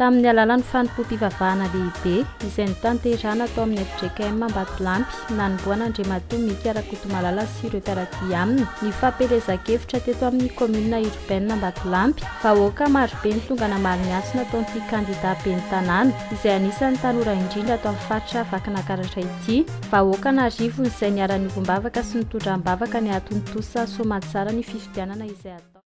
Tamin'ny alalan'ny fanompoam-pivavahana lehibe, izay notanterahina tao amin'ny fjkm Ambatolampy, nanombohan'Andriamatoa Mika Rakotomalala sy ireo mpiara-dia aminy ny fampielezan-kevitra teto amin'ny Commune Urbaine Ambatolampy. Vahoaka marobe ny tonga namaly ny antso nataon'ity kandida Ben'ny tanàna, izay anisan'ny tanora indrindra ato amin'ny faritra Vakinakaratra ity. Vahoaka an'arivony izay niara-niombom-bavaka sy nitondram-bavaka ny hahatontosa soamantsara ny fifidianana izay hatao.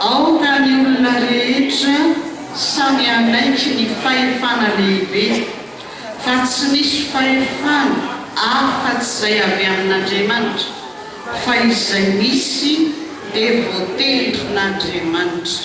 Aoka ny olona rehetra samy hanaiky ny fahefana lehibe, fa tsy misy fahefana afa-tsy izay avy amin'Andriamanitra, fa izay misy dia voatendrin'Andriamanitra.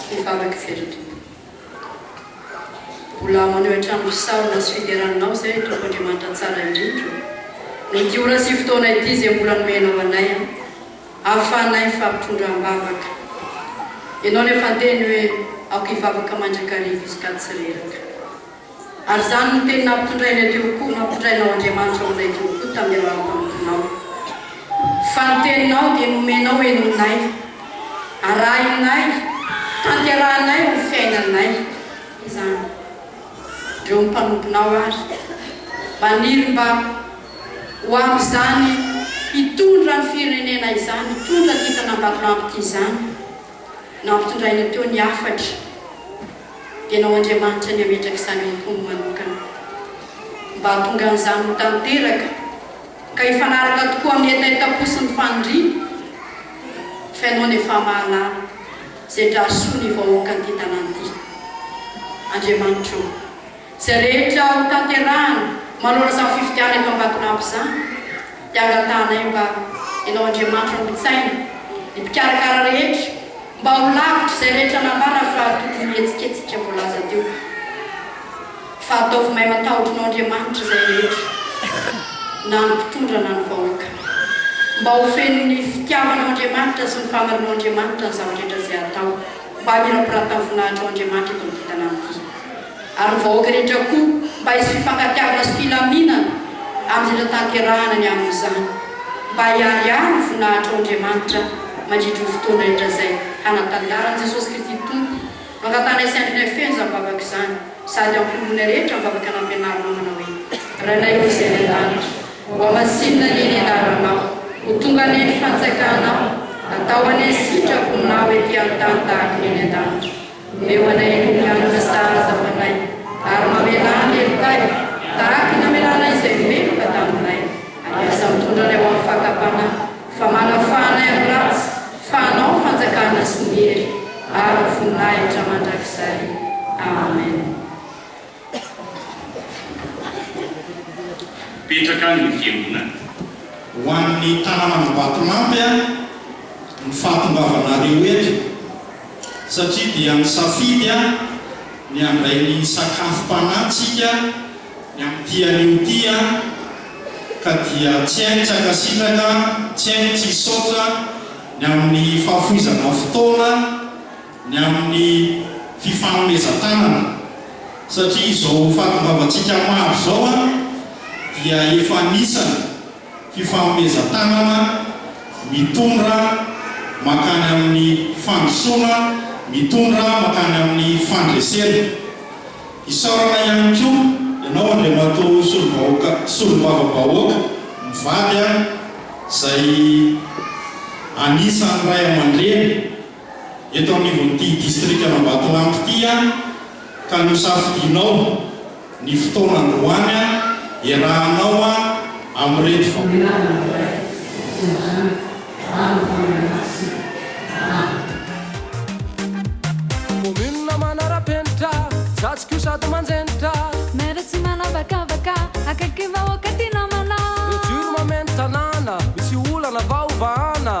sy ny famaky fety Tompo. Mbola maneho hatrany fisaorana sy fiderana Anao izay Tompo Andriamanitra tsara indrindra noho ity ora sy fotoana ity izay mbola nomenao anay ahafahanay mifampitondra am-bavaka Ianao nefa teny hoe aoka hivavaka mandrakariva isika tsy reraka. Ary izany no teny nampitondrainay teo koa, nampitondrainao Andriamanitra ho anay teo koa tamin'ny alalan'ny mpanomponao. Fa ny teninao dia nomenao henoinay, arahinay, tanterahinay ho fiainanay izany. Reo mpanomponao ary maniry mba ho amin'izany hitondra ny firenena izany, hitondra kintana Ambatolampy ity izany. Nampitondrainay teo ny hafatra. Ianao Andriamanitra ny hametraka izany amiko manokana. Mba hahatonga an'izany ho tanteraka, ka hifanaraka tokoa amin'ny hetahetam-po sy ny faniriana, f'Ianao ny efa mahalala izay drarsoa ny vahoakan'ity tanàna ity. Andriamanitra ô! Izay rehetra ho tanterahana manao izany fifidianana eto Ambatolampy izany dia angatahanay mba Ianao Andriamanitra no hitsaina, ny mpikarakara rehetra mba ho lavitra izay rehetra nambara fa tokony ho hetsiketsika voalaza teo. Fa ataovy mahay matahotranao Andriamanitra izay rehetra na ny mpitondra na ny vahoaka. Mba ho fenon'ny fitiavanao Andriamanitra sy ny fahamarinao Andriamanitra ny zava-drehetra izay atao. mba hamirapirata ny voninahitr' ao Andriamanitra eto amin'ity tanàna ity, ary ny vahoaka rehetra koa mba hisy fifankatiavana sy filaminana amin'izay natanterahana ny amin'izany, mba hiharihary ny voninahitr' ao Andriamanitra mandritry ny fotoana rehetra izay hanatanjaran'i Jesosy Kristy Tompo mangatanay sy andrinay feno izany vavaka izany, sady hampionona rehetra amin'ny vavaka nampianarinao manao hoe, Rainay Ray izay any an-danitra. Mba masinina anie ny anaranao. Ho tonga anie ny fantsakanao. Atao anie ny sitraponao ety an-tany tahaka ny any an-danitra. Omeo anay ny holanin'ny sahaza fanahy. Ary mamelà ny helokay, tahaka ny namelanay izay meloka taminay. Andrasa mitondra anay ho amin'ny fakam-panahy, fa manafaha anay amin'ny ratsy, fa anao ny fanjakana sy ny hery ary ny voninahitra mandrakizay. Amen. Mipetraka any ny fiangonana. Ho an'ny tanàn'Ambatolampy ary ny fahatongavanareo eto satria dia nisafidy ny handray ny sakafom-panahintsika ny amin'ity anio ity ka dia tsy hay tsy hankasitraka, tsy hay tsy hisaotra ny amin'ny fahafoizana fotoana, ny amin'ny fifanomezan-tanana satria izao fahatongavantsika maro izao dia efa anisany fifanomezan-tanana mitondra mankany amin'ny fandrosoana, mitondra mankany amin'ny fandresena. Isaorana ihany koa ianao Andriamatoa Solobahoaka Solombavabahoaka mivady izay anisan'ny Ray aman-dReny, eto anivon'ity distrikan'Ambatolampy ity aho ka nosafidianao ny fotoana androany aho iarahanao aho amin'ireto Commune manara-penitra, zajiko sady manjenitra. Maire tsy manavakavaka, akaiky vahoaka tia namana. Le dur mameno tanàna, misy olana vao vahana.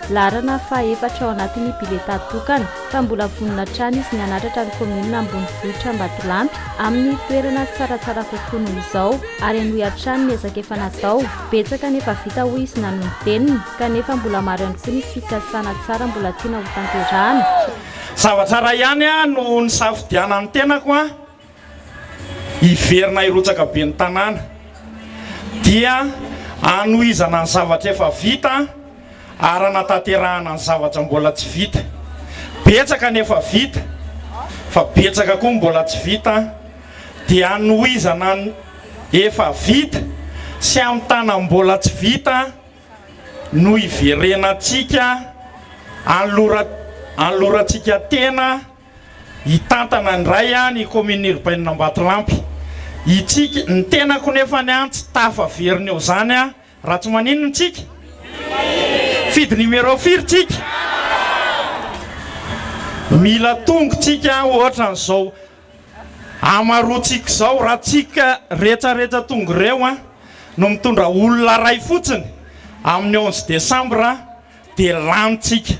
Laharana faha efatra ao anatin'ny biletà tokana, fa mbola vonona hatrany izy ny hanatratra ny kaominina ambonivohitra Ambatolampy amin'ny toerana tsaratsara kokoa noho izao ary hanohy hatrany ny ezaka efa natao. Betsaka ny efa vita hoy izy nanolo-teniny, kanefa mbola maro ihany koa ny fikasana tsara mbola tiana hotanterahana. Zavatra iray ihany no nisafidianan'ny tenako hiverina hirotsaka ben'ny tanàna dia hanohizana ny zavatra efa vita ary hanatanterahana ny zavatra mbola tsy vita. Betsaka ny efa vita fa betsaka koa ny mbola tsy vita dia hanohizana ny efa vita sy hamitana ny mbola tsy vita no hiverenantsika hanolorantsika tena Hitantana indray aho ny kaominina irbainina Ambatolampy. Hitsiky ny tenako nefa ny ahy tsy tafa very ny eo izany aho raha tsy maninona tsika? Fidy numéro firy tsika? Mila tongo tsika ohatrany izao hamaroantsika izao raha tsika retsaretsa tongo ireo no mitondra olona iray fotsiny amin'ny onze décembre. dia lany tsika.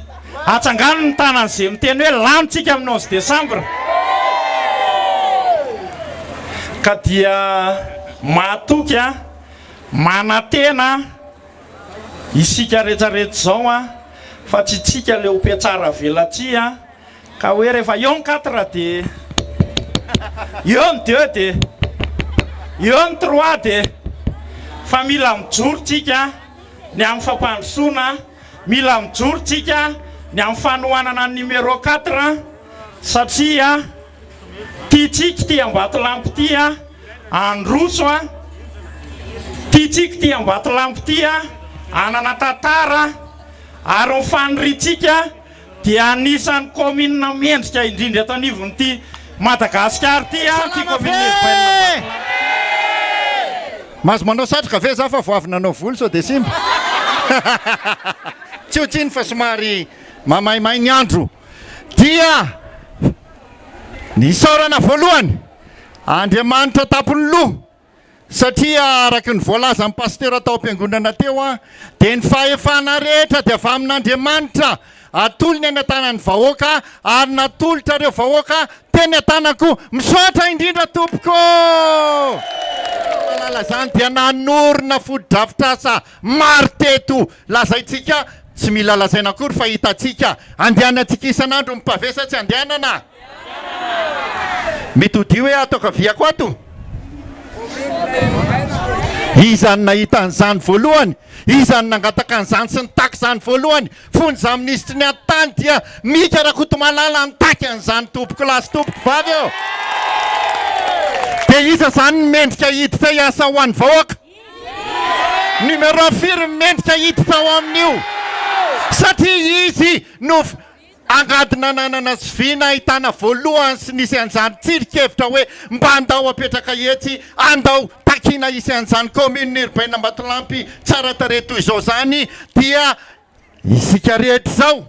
Atsangano ny tanany ze miteny hoe lany tsika amin'ny onze décembre. Ka dia mahatoky an, manantena isika rehetra rehetra izao an, fa tsy tsika le ho mpiatsara velatsihy an, ka hoe rehefa eo ny quatre dia eo ny deux dia eo ny trois dia fa mila mijoro tsika an. ny amin'ny fampandrosoana, mila mijoro tsika ny amin'ny fanohanana ny numéro quatre satria tia tsika ity Ambatolampy ity handroso, tia tsika ity Ambatolampy ity hanana tantara ary ny faniriantsika. dia anisan'ny kaominina mendrika indrindra eto anivon'ity Madagasikara ity ity kaominina urbaine Mahazo manao satroka ve za fa vao avy nanao volo sao dia simba? Tsy ho tsiny fa somary mamaimay ny andro. Dia ny isaorana voalohany Andriamanitra an-tampon'ny loha. Satria araka ny voalazan'ny pasitera tao am-piangonana teo dia ny fahefana rehetra dia avy amin'Andriamanitra. Atolony any an-tanan'ny vahoaka ary natolotra ireo vahoaka teny an-tanako. Misaotra indrindra tompoko. Mahalala izany dia nanorina fotodrafitrasa maro teto. Lazaintsika, tsy mila lazaina akory fa hitantsika. Andehanantsika isan'andro mipavesa tsy andehanana. Mety ho dihy hoe ato ankaviako ato? Iza no nahita an'izany voalohany? Iza no nangataka an'izany sy nitaky izany voalohany? Fony izaho minisitry ny atitany dia Mika Rakotomalala nitaky an'izany tompoko lahy sy tompoko vavy ô! Dia iza izany no mendrika hiditra hiasa ho an'ny vahoaka? Numéro firy no mendrika hiditra ao amin'io? Satria izy no. Angady nananana sy vy nahitana voalohany sy nisy an'izany tsirinkevitra hoe mba andao apetraka etsy, andao takiana hisy an'izany kaominina urbaine Ambatolampy tsara tarehy toy izao izany dia isika rehetra izao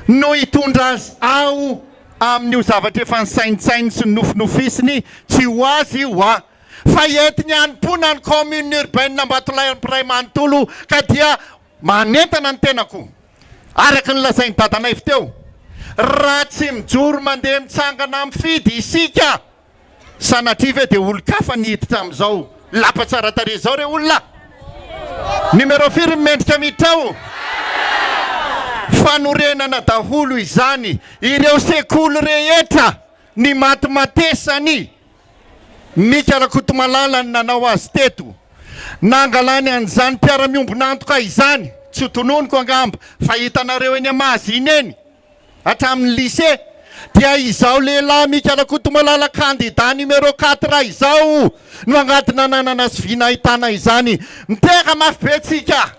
no hitondra azy ao amin'io zavatra efa nisaintsainy sy nofinofisiny tsy ho azy io hoa fa entiny hanompoana ny kaominina urbaine Ambatolampy iray manontolo ka dia manentana ny tenako Araka ny lazain'i Dadanaivo teo, raha tsy mijoro mandeha mitsangana mifidy isika, sanatria ve dia olon-kafa ny hiditra amin'izao lapa tsara tarehy izao re olona? Numéro firy ny mendrika miditra ao? Fanorenana daholo izany ireo sekoly rehetra, ny matimatesany, Mika Rakotomalala ny nanao azy teto. Nangalany an'izany mpiara-miombon'antoka izany, tsy ho tononiko angamba fa hitanareo eny Mahazina eny, hatramin'ny lycée, dia izao lehilahy Mika Rakotomalala kandida numéro quatre izao no angady nananana sy vina ahitana izany. Mitehaka mafy be tsika.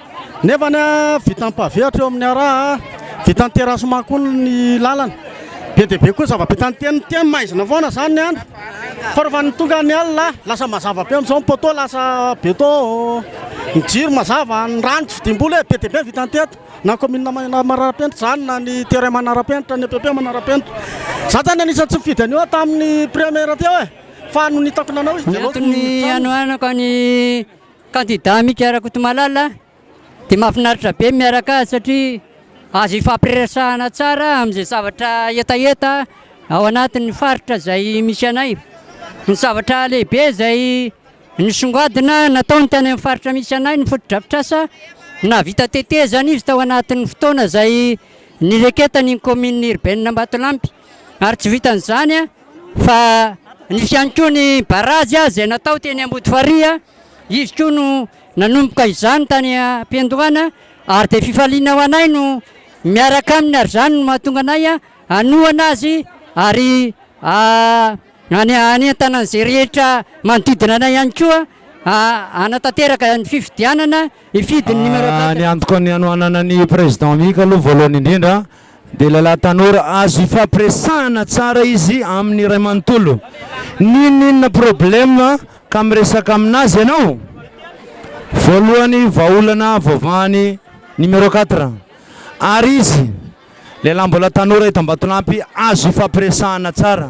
Nefany a vita ampaviatra eo amin'ny ara a vita ny terasement koa ny lalana be dia be koa zava-bita ny teny ny teny maizina foana izany ny andro fa rehefa ny tonga ny alina a lasa mazava be amin'izao ny poteau lasa beton ny jiro mazava ny rano tsy vidim-bola e be dia be ny vita ny teto na commune ma manarapenitra izany na ny terrain manarapenitra ny epp manarapenitra za zany anisan'ny tsy nifidy an'io aho tamin'ny premier teo e fa nony hitako nanao izy dia aleoko ny ny hanoanako ny Kandida Mika Rakotomalala dia mahafinaritra be ny miaraka azy satria azo ifampiresahana tsara amin'izay zavatra hetaheta ao anatin'ny faritra izay misy anay. Ny zavatra lehibe izay nisongadina nataony tany amin'ny faritra misy anay ny fotodrafitrasa, nahavita tetezana izy tao anatin'ny fotoana izay nireketany ny kaominina irbenina Ambatolampy ary tsy vitan'izany Fa nisy ihany koa ny barazy izay natao teny Ambodifarihy, izy koa no nanomboka izany tany am-piandohana ary dia fifaliana ho anay no miaraka aminy ary izany no mahatonga anay hanohana azy ary hanentana an'izay rehetra manodidina anay ihany koa hanatanteraka ny fifidianana hifidy ny numéro quatre. Ny antoko ny hanohanana ny Président Mika aloha voalohany indrindra Dia lehilahy tanora azo ifampiresahana tsara izy amin'ny iray manontolo. N'inon'inona problème ka miresaka aminazy ianao? Voalohany vahaolana voavahan'i numéro quatre. Ary izy, lehilahy mbola tanora eto Ambatolampy, azo ifampiresahana tsara.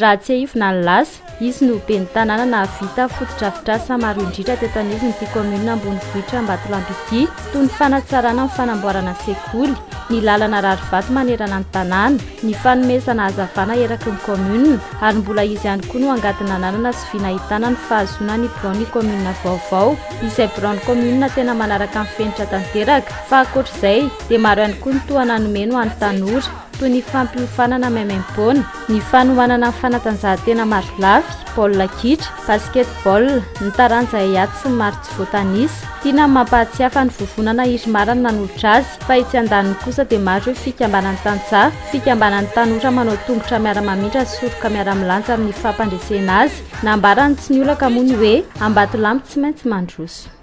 Raha tsiahivina ny lasa, izy no ben'ny tanàna nahavita fotodrafitrasa maro indrindra teto anivon'ity kaominina ambonivohitra Ambatolampy ity, toy ny fanatsarana ny fanamboarana sekoly, ny lalana rarivato manerana ny tanàna, ny fanomezana hazavana eraky ny kaominina ary mbola izy ihany koa no angady nananana sy vy nahitana ny fahazoana ny biraon'ny kaominina vaovao, izay biraon'ny kaominina tena manaraka ny fenitra tanteraka, fa ankoatr'izay dia maro ihany koa ny tohana nomeny ho an'ny tanora. toy ny fampiofanana maimaimpoana, ny fanomanana ny fanatanjahantena marolafy, baolina kitra, basketball, ny taranja haiady sy ny maro tsy voatanisa. Tiana ny mampahatsiahy fa ny vovonana Irmar no nanolotra azy fa etsy andaniny kosa dia maro ireo fikambanan'ny tantsaha, fikambanan'ny tanora manao tongotra miara-mamindra ny soroka miara-milanja amin'ny fampandresena azy. Nambaran'i Tsiniolaka moa ny hoe, Ambatolampy tsy maintsy mandroso.